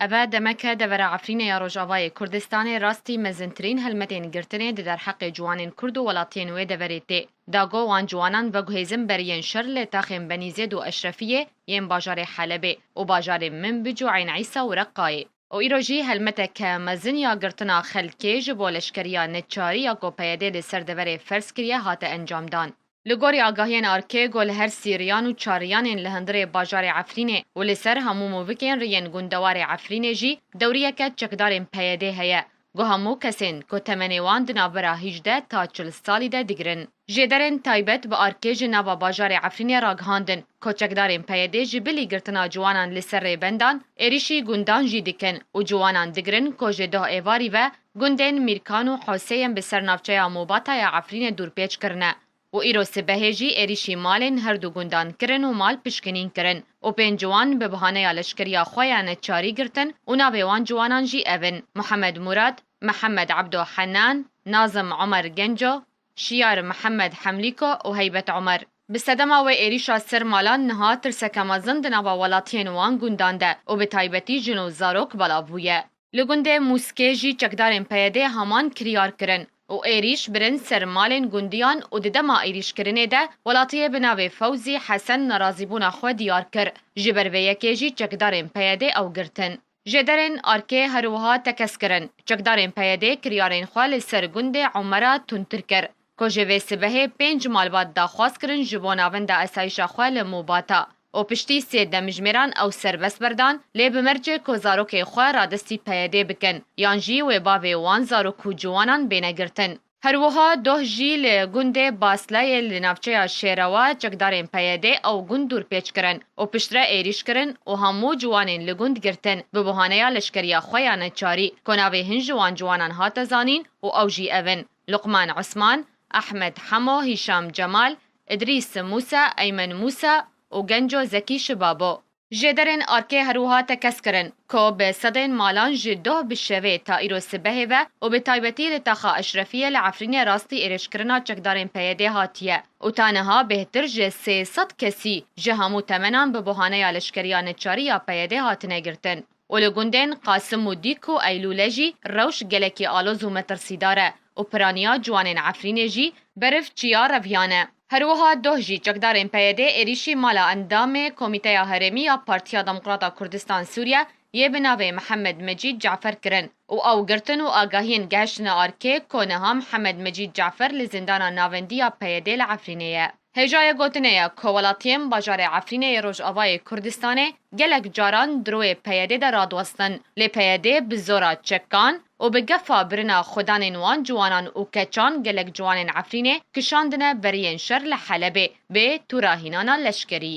Eve demeke devera Efrînê ya Rojavayê Kurdistanê rastî mezintirîn helmetên girtinê di derheqê ciwanên Kurd û welatiyên wê deverê tê da go wan ciwanan veguhêzin ber yên şer li taxên Benîzêd û Eşrefiyê yên bajarê Helebê û bajarên Minbij û Eyn Îsa û Reqqayê. Û îro jî helmeteke mezin ya girtina xelkê ji bo leşkeriya neçarî ya ku PYD li ser deverê ferz kiriye hate encamdan. Li gorî agahiyên Arcego li her sî riyan û çar riyanên li hundirê bajarê Efrînê û li ser hemû movikên riyên gundewarê Efrînê jî dewriyeke çekdarên PYDê heye ku hemû kesên ku temenê wan di navbera hîjdeh ta çil salî de digirin jêderên taybet bi arkê ji nava bajarê Efrînê ragihandin ku çekdarên PYDê ji bilî girtina ciwanan li ser rêbendan êrîşî gundan jî dikin û ciwanan digirin ku ji doh êvarî ve Gundên Mîrkan û Hosê yên bi ser navçeya Mûbata ya Efrînê dûrpêç kirine û îro sibehê jî êrîşî malên her du gundan kirin û mal pişkinîn kirin û pênc ciwan bi bihaneya leşkeriya xwe ya neçarî girtin û navê wan ciwanan jî ev in, Mihemed Mûrad, Mihemed Ebdo Henan, Nazim Omer Genco, Şiyar Mihemed Hemlîko û Heybet Omer. Bi sedema wê êrîşa ser malan niha tirseke mezin di nava welatiyên wan gundan de û bi taybetî jin û zarok belav bûye. Li gundê Mûskê jî çekdarên PYD'ê haman kiryar kirin û êrîş birin ser malên gundiyan û di dema êrîşkirinê de welatiyê bi navê Fewzî Hesen nerazîbûna xwe diyar kir. Ji ber vê yekê jî çekdarên PYD'ê ew girtin. Jêderên erkê herwiha tekez kirin. Çekdarên PYD'ê kiryarên xwe li ser gundê Omera tundtir kir. Ku ji vê sibehê pênc malbat daxwaz kirin ji bo navenda esayîşa xwe li Mûbata û piştî sê demjimêran ew serbest berdan lê bi mercê ku zarokê xwe radestî PYD'ê bikin yan jî wê bavê wan zarok û ciwanan bêne girtin. Her wiha doh jî li gundê Baslayê li navçeya Şêrewa çekdarên PYD'ê ew gund dûrpêç kirin û piştre êrîş kirin û hemû ciwanên li gund girtin bi buhaneya leşkeriya xwe ya neçarî ku navê hin ji wan ciwanan hate zanîn û ew jî ev in. Luqman Osman, Ahmed Hemo, Hîşam Cemal, Îdrîs Mûsa, Eymen Mûsa û Genco Zekî Şibabo. Jêderên erkê herwiha tekez kirin ku bi sedên malan ji doh bi şevê ta îro sibehê ve û bi taybetî li Taxa Eşrefiyê li Efrînê rastî êrêjkirina çekdarên PYD'ê hatiye û ta niha bêhtir ji sê sed kesî ji hemû temenan bi buhaneya leşkeriya neçarî ya PYD'ê hatine girtin. û li gundên Qasim û Dîk û Eylûle jî rewş gelekî aloz û metirsîdar e û piraniya ciwanên Efrînê jî beriv çiya reviyan e. Her wiha doh jî çekdarên PYD'ê êrîşî mala endamê Komîteya Herêmî ya Partiya Demokrata Kurdistan Sûriye yê bi navê Mihemed Mecîd Cafer kirin û ew girtin û agahiyên gehiştine arkê ku niha Mihemed Mecîd Cafer li zîndana navendî ya PYD'ê li Efrînê ye. Hêjayê gotinê ye ku welatiyên bajarê Efrînê yê Rojavayê Kurdistanê gelek caran dirûê PYD'ê de radiwestin lê PYD bi zora çekan û bi gefa birina xwedanên wan ciwanan û keçan gelek ciwanên Efrînê kişandine beriyên şer li Helebê bê tûra hînana leşkerî.